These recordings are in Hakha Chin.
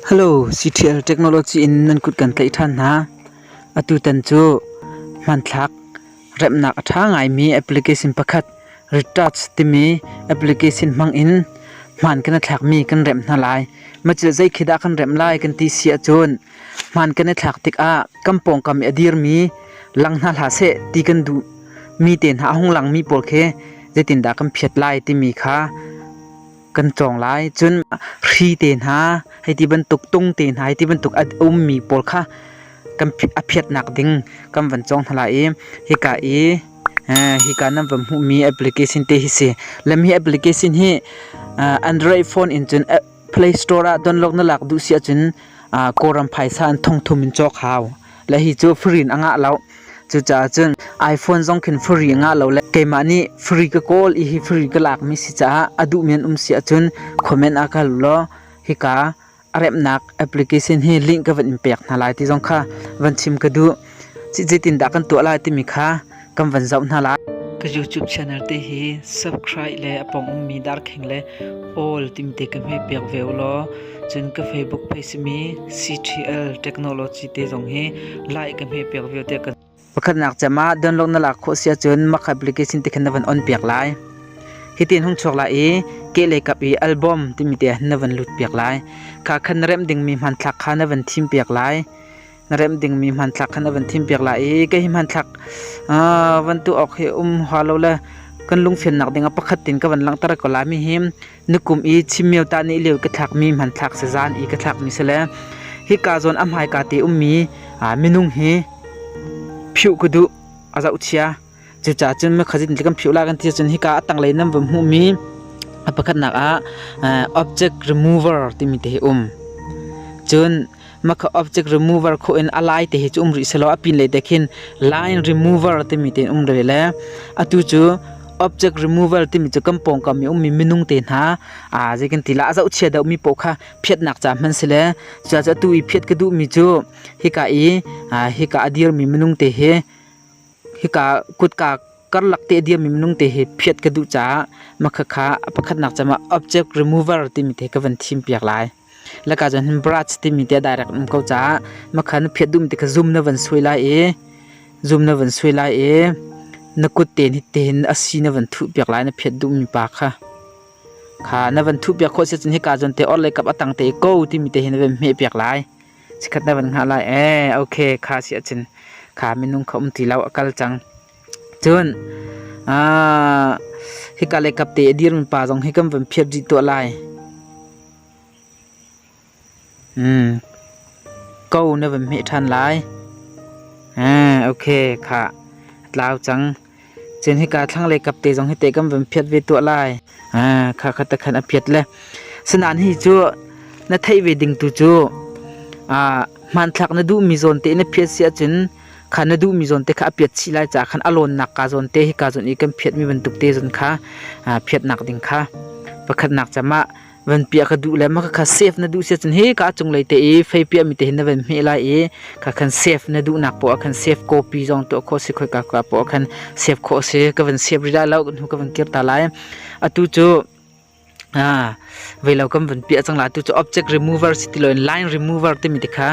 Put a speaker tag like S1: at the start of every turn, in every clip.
S1: Hello, CTL technology in nan kut kan tlaih ṭhan hna. Atutan cu hmanthlak remnak a ṭha ngaimi application pakhat Recharge timi application hmang in hmaan kan i thlakmi kan remh hna lai. Macilh zeikhi dah kan remh lai kan ti si ahcun hmaan kan i thlak tikah kan pawngkam i a dirmi lang hna hlah seh ti kan duh mi te hna a hung langmi pawl khi zeitindah kan phiat lai timi kha kan tlawng lai cun hri te hna hei ti bantuk tung te hna hei ti bantuk a ummi pawl kha kan a phiatnak ding kan van cawng hna lai i hika i hika nan van hmuhmi application te hi si lem hi application hi android phone in cun play store ah download na lak duh si ahcun kawlram phaisa in thongthum in cawk hau le hi cu free in a ngah lo. Cucaah cun iPhone zong khin free a ngah lo le keimah nih free ka kawl i hi free ka lakmi si caah a duh men um si ahcun comment ah ka hal law hika a remnak application hi link ka van in pek hna lai ti zong kha van chim ka duh. Citin dah kan tuah lai timi kha kan van zoh hna lai ka youtube channel te hi subscribe le apong ummi darkheng le all timte ka hme pek ve law cun ka facebook page simi ctl technology te zong hi like ka hme pek ve te ka pakhatnak chama download na lak kho sia cun mak application te khan na van on pek lai hitin hung chuak lai i ke le kap i album timi te na van lut pek lai kha khan rem ding mi hman thlak kha na van thim pek lai na remh dingmi hmanthlak khan a van thimpiak lai i ka hi hmanthlak van tuah awk hi um hua lo le kan lungfimnak ding ah pakhat tin ka van langhter ko lai mi hi nukum i chimmiau ta ni liau ka thlak mi hmanthlak se zan i ka thlak mi se le hi ka zawn a hmai ka te um mi minung hi phiu kudu a zau chia Cucaah cun mekhat in kan philh lai kan ti ahcun hika a tanglei nan vun hmuhmi a pakhatnak ah object remover timi te hi um. Cun makha object remover khawh in a lai te hi cu um rih selaw a pin lei te khin line remover timi te um rih le atu cu object remover timi cu kan pawngkam i ummi minung te hna aa zei kan ti la a zohchia deuhmi paoh kha phiatnak ca hman si le cucaah atu i phiat ka duhmi cu hika i hika a dirmi minung te hi Hika kutka karlak te a diammi minung te hi phiat ka duh caah makhakha a pakhatnak cem ah object remover timi te ka van thim piak lai. Laka cun hin brush timi te a direct um ko caah makha na phiat duhmi te kha zoom na van suai lai i zoom na van suai lai i na kut te nih tein asi na van thuh piak lai na phiat duhmi pa kha. Kha na van thuh piak khawh si cun hika cun te orhlei kap a tang te i ko timi te hi na van hmeh piak lai. Chikkhat na van hngah lai ee ok kha si ahcun kha minung kha um ti lo a kal cang. Cun ah hika le kap te a dirmi pa zong hi kan van phiat rih tuah lai. Hmm. Ko na van hmeh ṭhan lai. Ah, ok kha tlau cang. Cun hika thlanglei kap te zong hi te kan van phiat ve tuah lai. Ah, kha kha takhan a phiat le. Sinain hi cu na theih ve ding tu cu ah hmanthlak na duhmi zawn te na phiat si ahcun kha na duhmi zawn te kha a phiat chih lai caah khan a lawnnak ka zawn te hika zawn i kan phiatmi bantuk te zawn kha ah phiatnak ding kha pakhatnak cam ah van piah ka duh le ma kha save na duh sia cun hi ka cunglei te i fei piah mi te hin na van hmeh lai i kha khan save na duh nak poah khan save copy zong tuah kho si khoi ka ka poah khan save kho si ka van save ri lai lo nu ka van kir ta lai atu chu ah veilo kam van pia chang la tu chu object remover si ti loin line remover te mi te kha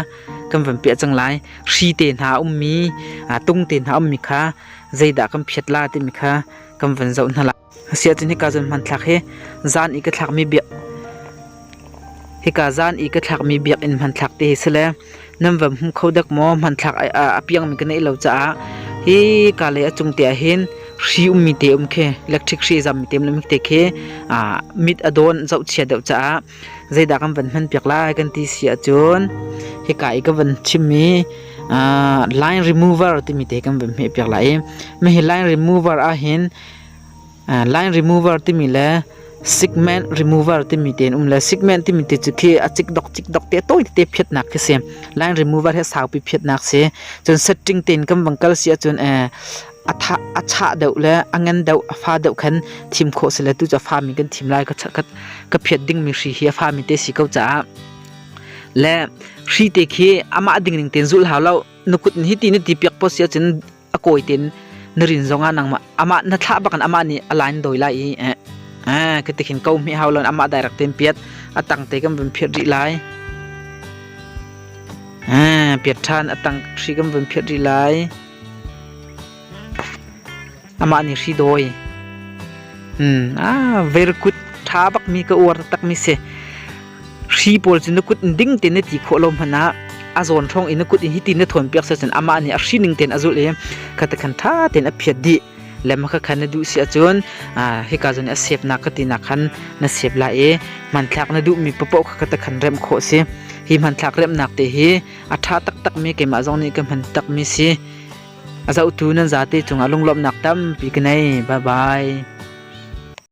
S1: kam van pia chang lai shi te na um mi tung te na um mi kha zeida kam phiat la te mi kha kam van zo na la Asiahcun hika cun hmanthlak hi zan i ka thlakmi biak hika zan i ka thlakmi biakinn hmanthlak te hi si le nan va hmu kho dek maw? Hmanthlak a piangmi ka neih lo caah hi ka lei a cung te ah hin hri ummi te um khi electric hri zammi te um te khi mit a dawn zohchia deuh caah zeidah kan van hman piak lai kan ti si ahcun hika i ka van chimmi line remover timi te kan van hmeh piak lai i hihi line remover ah hin Line remover timi le segment remover timi te an um le segment timi te cu khi a cikdok cikdok te tawi tete phiatnak khi si. Line remover hi a saupi phiatnak si. Cun setting tein kan vang kal si ahcun a chah deuh le a ngan deuh a fa deuh khan thim khawh si le tu cu a fami kan thim lai ka phiat dingmi hri hi a fami te si ko caah. Le hri te khi amah ding ning tein zulh hau lo. Na kut hi ti na ti piak poh si ahcun a kawi tin na rin zong ah nangmah amah na thlah bakin amah nih a line doi lai i eh ah ka tikhin ko mi hau lon amah direct tin piat atang te kan vun phiat ri lai ah piat than atang hri kan vun phiat ri lai amah ni hri doi hmm ah very good tha bak mi ka uar tak mi se hri pawl cu na kut in ding ten na ti khawh lo hmanh ah a zawn thong in na kut in hitin na thawn piak sa cun amah nih a hri ning ten a zulh i khata khan tha ten a phiat dih lema kha khan na duh si ahcun hika zon a sep nak ka ti nak khan na sep la i hmanthlak na duh mi papo kha kata khan rem kho si hi hmanthlak rem nak te hi a tha tak tak mi keimah zong nih ka hman tak mi si azau tu nan za te chunga lunglom nak tam pi knai bye bye